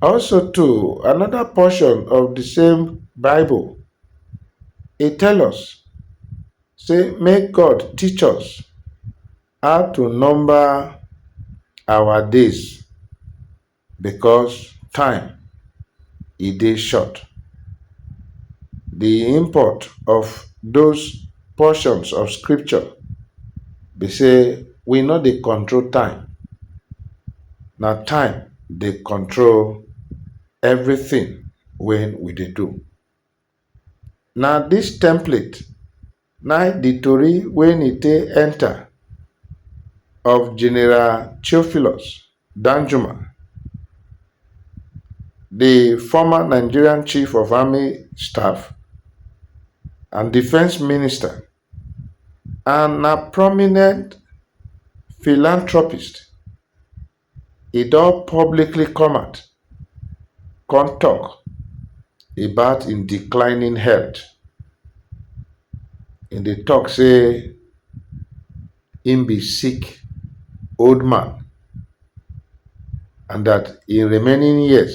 Also too, another portion of the same Bible, it tell us say make God teach us how to number our days because time e dey short. Di import of those portions of scripture be sey we no dey control time, na time dey control everything wey we dey do. Na dis template na im di tori wey e take enta of General Theophilus Danjuma, di former Nigerian chief of army staff and defence minister and na prominent philanthropist e don publicly come out come tok about im declining health. E dey tok say im be sick old man and dat im remaining years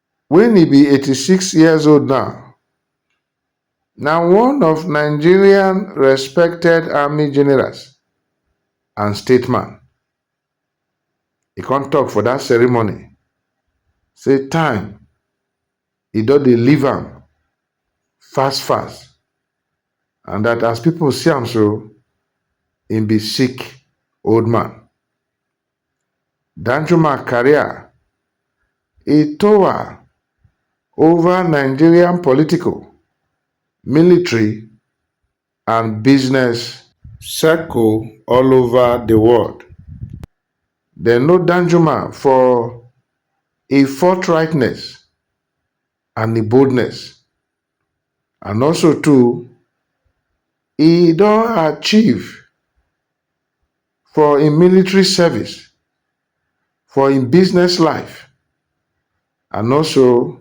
Wen e be eighty six years old now, na one of Nigerian respected army generals and stateman. E come tok for dat ceremony say time e don dey leave am fast fast and dat as pipo see am so, im be sick old man. Danjuma career e tower over Nigerian political, military and business. Circle all over the world. Dem know Danjuma for e forthrightness and e boldness. And also too, e don achieve for im military service, for im business life and also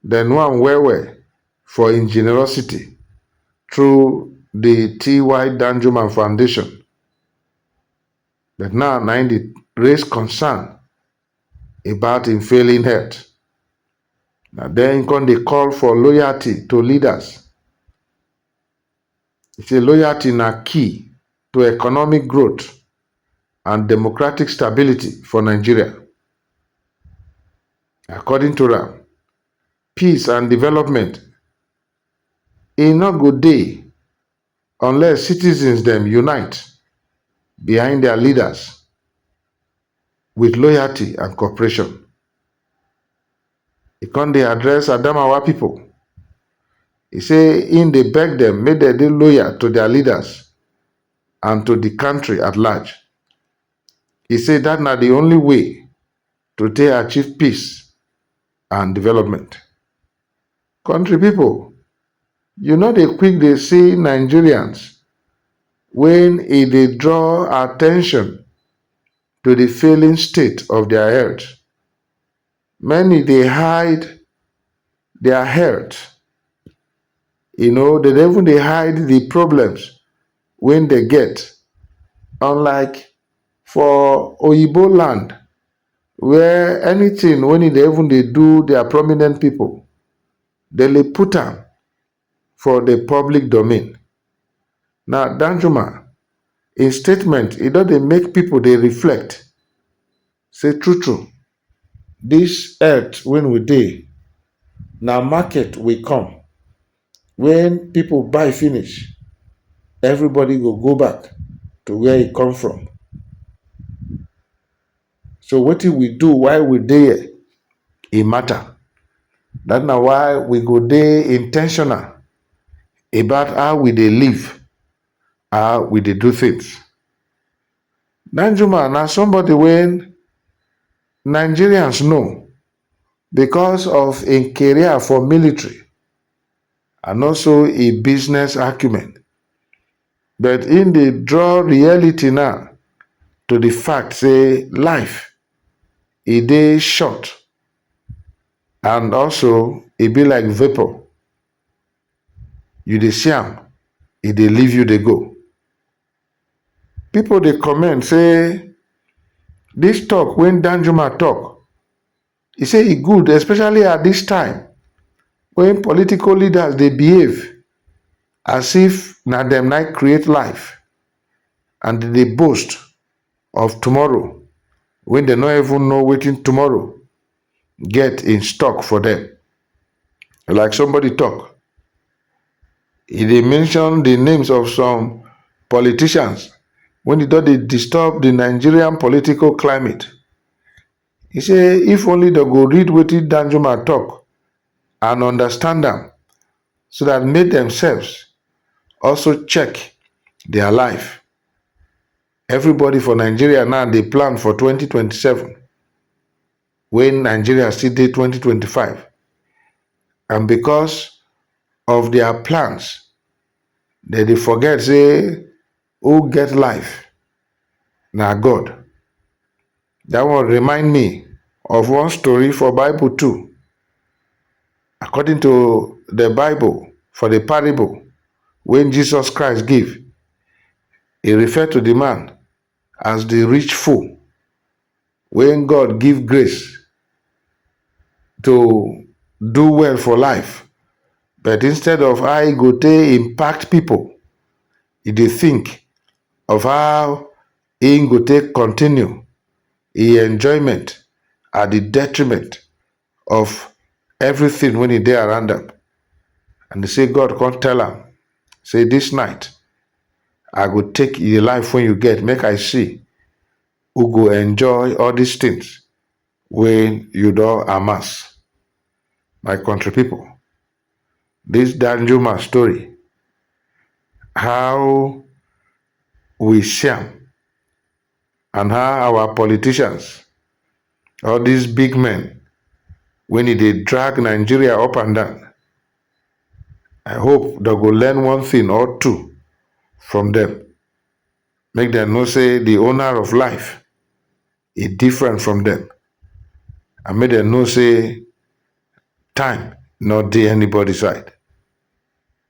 dem know am well well for im generosity through di TY Danjuma Foundation but now na im dey raise concern about im failing health. Na den im come dey call for loyalty to leaders. E say loyalty na key to economic growth and democratic stability for Nigeria. According to am, peace and development e no go dey unless citizens dem unite behind dia leaders wit loyalty and cooperation. E come dey address Adamawa pipo, e say im dey beg dem make dem dey loyal to dia leaders and to di kontri at large. E say dat na di only way to take achieve peace and development. Country people, you no dey quick dey see Nigerians when e dey draw attention to the failing state of their health. Many dey hide their health, you know, dem dey even dey hide the problems wey dem get unlike for oyibo land. where anything when e dey even dey do their prominent people, dem dey put am for the public domain. Now Danjuma, im statement e don dey make people dey reflect say true true this earth wey we dey na market we come when people buy finish everybody go go back to where e come from. So wetin we do while we dey here, e matter. That na why we go dey intentional about how we dey live, how we dey do things. Danjuma na somebody wey Nigerians know because of im career for military and also im business acumen. But im dey draw reality now to di fact say life e dey short and also e be like vapour, you dey see am e dey leave you dey go. Pipo dey comment say dis tok wey Danjuma tok He say e good especially at dis time wen political leaders dey behave as if na dem na create life and dem dey boast of tomorrow wen dem no even know wetin tomorrow get in stock for dem. Like somebody talk, he dey mention di names of some politicians wen e don dey disturb di Nigerian political climate. He say if only dem go read wetin Danjuma talk and understand am so that make themselves also check their life. Everybody for Nigeria now dey plan for twenty twenty seven when Nigeria still dey twenty twenty five and because of their plans dem dey forget say Who get life? Na God. Dat one remind me of one story for Bible too. According to the Bible, for the parable wey Jesus Christ give, e refer to the man as the rich fool. When God give grace to do well for life but instead of how e go take impact people, e dey think of how im go take continue im enjoyment at di detriment of everything wey e dey around am and e say God come tell am say dis night I go take di life wey you get make I see u go enjoy all dis tins wey u don amass my kontri pipo dis danjuma story how we see am and how our politicians all dis big men wen e dey drag Nigeria up and down I hope dem go learn one tin or two from dem. make dem know sey de owner of life e different from dem and make dem know sey time no dey anybody side.